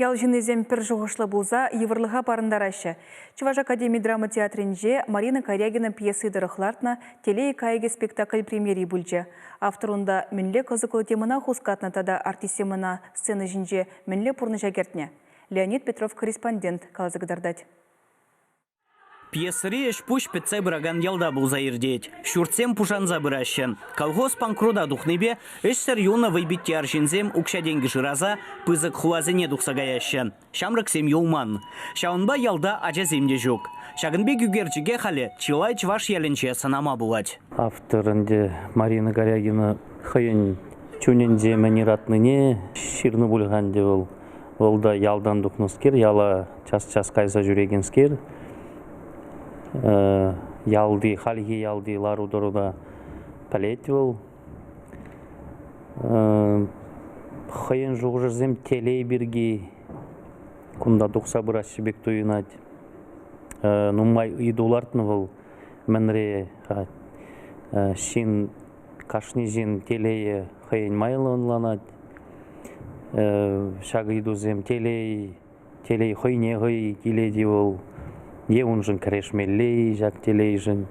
Ял ҫыннисем пӗр шухӑшлӑ пулса йывӑрлӑха парӑнтараҫҫӗ. Чӑваш академи драма театрӗнче Марина Корягина пьеси тӑрӑх лартнӑ Телей кайӑкӗ спектакль премьери пулчӗ. Автор унта мӗнле кӑсӑклӑ темӑна хускатнӑ тата артистсем ӑна сцена ҫинче мӗнле пурнӑҫа кӗртнӗ? Леонид Петров корреспондент каласа кӑтартать. Пьесӑри ӗҫ-пуҫ пӗтсе пыракан ялта пулса иртет. Ҫуртсем пушанса пыраҫҫӗ. Колхоз панкрута тухнипе ӗҫсӗр юлнӑ вӑйпитти арҫынсем укҫа-тенкӗ шыраса пысӑк хуласене тухса каяҫҫӗ. Ҫамрӑксем юлман. Ҫавӑнпа ялта ачасем те ҫук. Ҫакӑн пек ӳкерчӗке халӗ чылай чӑваш ялӗнче сӑнама пулать. Автор ӗнтӗ Марина Горягина хӑйӗн чунӗнче мӗн ыратнине ҫырнӑ пуль-ха ӗнтӗ вӑл. Вӑл та ялтан тухнӑскер, яла час-час кайса ҫӳрекенскер. Ялти, хальхи ялти лару-тӑруда пӗлет вӑл. Хӑйӗн шухӑшӗсем телей пирки кунта тухса пыраҫҫӗ пек туйӑнать. Нумай ыйту лартнӑ вӑл мӗнре ҫын Кашни ҫын телее хӑйӗн майлӑ ӑнланать. Ҫак ыйтусем телей, телей хӑйне хӑй килет-и вӑл е уншӑн кӗрешмелле-и ҫак телейшӗн.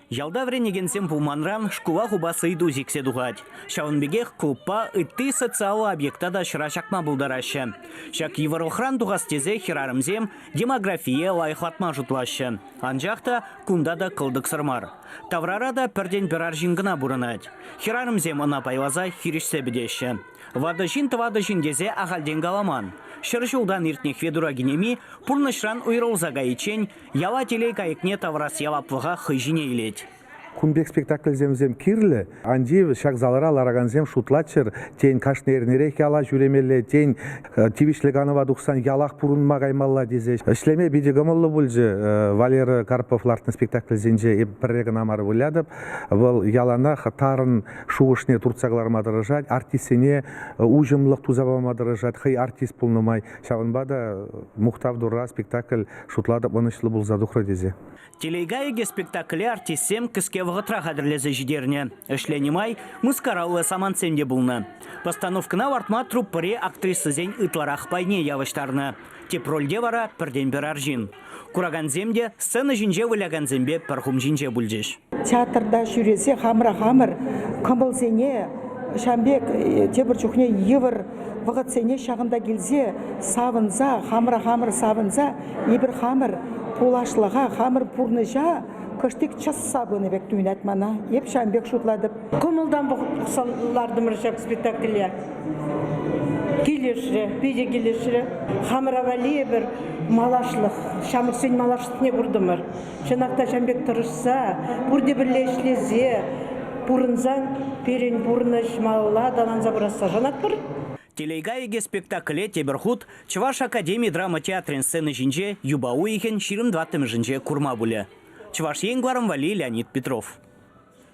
Ялта вӗренекенсем пулманран шкула хупас ыйту сиксе тухать. Ҫавӑн пекех клубпа ытти социаллӑ объекта та ҫӑра ҫакма пултараҫҫӗ. Ҫак йывӑрлӑхран тухас тесе хӗрарӑмсем демографие лайӑхлатма шутлаҫҫӗ. Анчах та кунта та кӑлтӑксӑр мар. Таврара та пӗртен-пӗр арҫын кӑна пурӑнать. Хӗрарӑмсем ӑна пайласа хирӗҫсе пӗтеҫҫӗ. Ватӑ ҫын тӑватӑ ҫын тесе ахальтен каламан. Ҫӗр ҫултан иртнӗ Федура кинеми пурнӑҫран уйрӑлса кайиччен яла телей кайӑкне тавӑрас яваплӑха хӑй ҫине илет. Кун пек спектакльсем вӗсем кирлӗ. Ан тив, ҫак залра ларакансем шутлаччӑр, тен, кашни эрнерех яла ҫӳремелле, тен, тивӗҫлӗ канӑва тухсан ялах пурӑнма каймалла тесе ӗҫлеме питӗ кӑмӑллӑ пулчӗ. Валера Карпов лартнӑ спектакльсенче эп пӗрре кӑна мар вылятӑп. Вӑл яланах тарӑн шухӑшне туртса кӑларма тӑрӑшать, артистсене уҫӑмлӑх туса пама тӑрӑшать, хӑй артист пулнӑ май. Ҫавӑнпа та Мухтав Турра спектакль шутлатӑп ӑнӑҫлӑ пулса тухрӗ тесе. Телейга ӳкӗ спектакле артистсем кӗске вӑхӑтра хатӗрлесе ҫитернӗ. Ӗҫленӗ май мыскараллӑ самантсем те пулнӑ. Постановкӑна лартма труппӑри актрисӑсен ытларах пайне явӑҫтарнӑ. Тӗп рольте вара пӗртен-пӗр арҫын. Куракансем те сцена ҫинче вылякансемпе пӗр хум ҫинче пулчӗҫ. Театрта ҫӳресе хамӑра хамӑр кӑмӑлсене ҫавӑн пек тепӗр чухне йывӑр вӑхӑтсене ҫакӑнта килсе савӑнса хамӑра хамӑр савӑнса Эпир хамӑр пуласлӑха, хамӑр пурнӑҫа кӑштик чӑсса пынӑ пек туйӑнать мана. Эп ҫавӑн пек шутлатӑп. Кӑмӑлтан пӑхса лартӑмӑр ҫак спектакле. Килӗшрӗ, питӗ килӗшрӗ. Хамӑра валли эпир малашлӑх, ҫамрӑксен малашлӑхне куртӑмӑр. Чӑнах та ҫавӑн пек тӑрӑшса, пурте пӗрле ӗҫлесе пурӑнсан пирӗн пурнӑҫ малалла аталанса пырасса шанатпӑр. Телейга икӗ спектакле тепӗр хут Чӑваш академи драма театрӗн сцена ҫинче юпа уйӑхӗн ҫирӗм тӑваттӑмӗшӗнче курма пулӗ Чӑваш Ен кӑларӑм валли Леонид Петров.